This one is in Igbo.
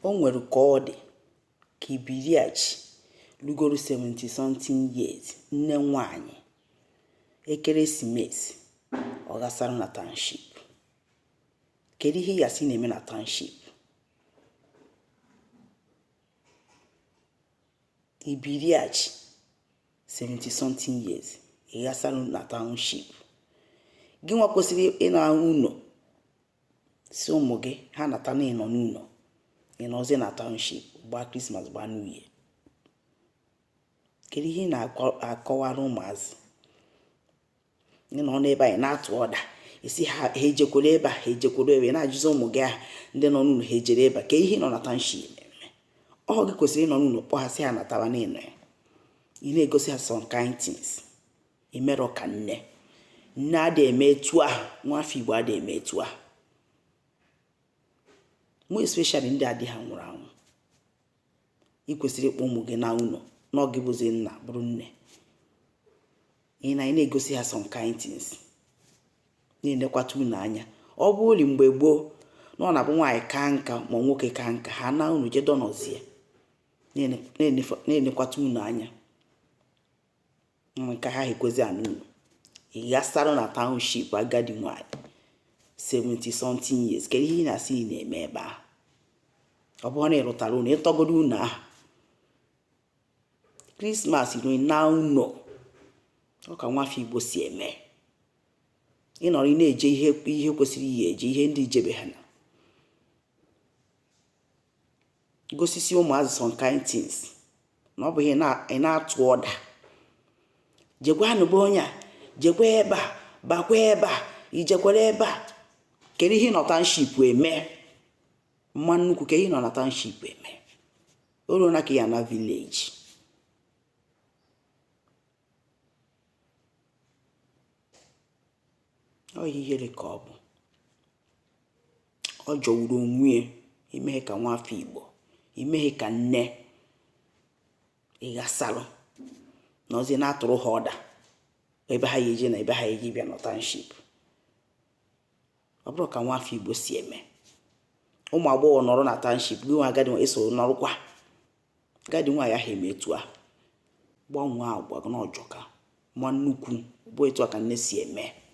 O nwere ka ọ dị ka ibiriachi lugoro 70 something years nne nwanyị ekeresimesi ọ ghasara na township kedu ihe ị ya-asị na-eme na township ibiriachi 70 something years ị ghasara na township gị nwa kwesịrị ịna ụnọ sị ụmụ gị ha nata na ị nọ n'ụnọ ị nọzi na township gbaa krismas gbaa new year kedu ihe ị na-akọwara ụmụazị ị nọ n'ebe ahụ ị na-atụ ọda asị ha ha ejekwuru ebe a ha ejekwuru ebe na-ajụzi ụmụ gị ahụ ndị nọ n'ụnọ ha ejere ebe a kee ihe ị nọ na township eme ọ gị kwesịrị ịnọ n'ụnọ kpọọ ha sị ha nataba na ị nọ ya ị na-egosi ha some kind things i merọ ka nne nne adị eme etu ahụ nwafọ igbo adị eme etu ahụ more especially ndị a di ha nwụrụ anwụ ị kwesịrị ịkpọ ụmụ gị naa ụnọ na ọ gị bụzi nna bụrụ nne ị na ị na-egosi ha some kind things na-enekwata ụnọ anya ọ bụlụ mgbe gboo na ọ na-abụ nwaanyị kaa nka ma nwoke kaa nka ha naa ụnọ jee dọnọzie na-enekwata ụnọ anya nke ha ekwezi ana ụnọ ị ghasara na township agadi nwanyị 70 something years kedu ihe ị na-asị ị na-eme ebe ahụ ọ bụrụ na ị rụtara ụnọ ị tọgodo ụnọ ahụ krismas ruo ị naa ụnọ ọ ka nwafọ igbo si eme ị nọrọ ị na-eje ihe ihe kwesịrị ije eje ihe ndị i jebe ha na gosisi ụmụazị some kind things na ọ bụghị ị na-atụ ọda jekwanụ be onye a jekwa ebe a bakwa ebe a i jekwara ebe a kedu ihe ị nọ township eme mma nnukwu kedu ihe ị nọ na township eme o ruona ka ị ya-ana village ọ ihere ka ọ bụ ọ jọgburu onwe ya i meghị ka nwa afọ igbo i meghị ka nne ị ghasalụ na ozi na-atụrụ ha ọda ebe ha ya-eje na ebe ha ya-eje bịa nọ township ọ bụrọ ka nwa afọ igbo si eme ụmụ agbọghọ nọrọ na township gị nwa agadi esoro nọrụkwa agadi nwaanyị ahụ eme etu a gbanwee agwa na ọ jọka ma nnukwu bụ etu a ka nne si eme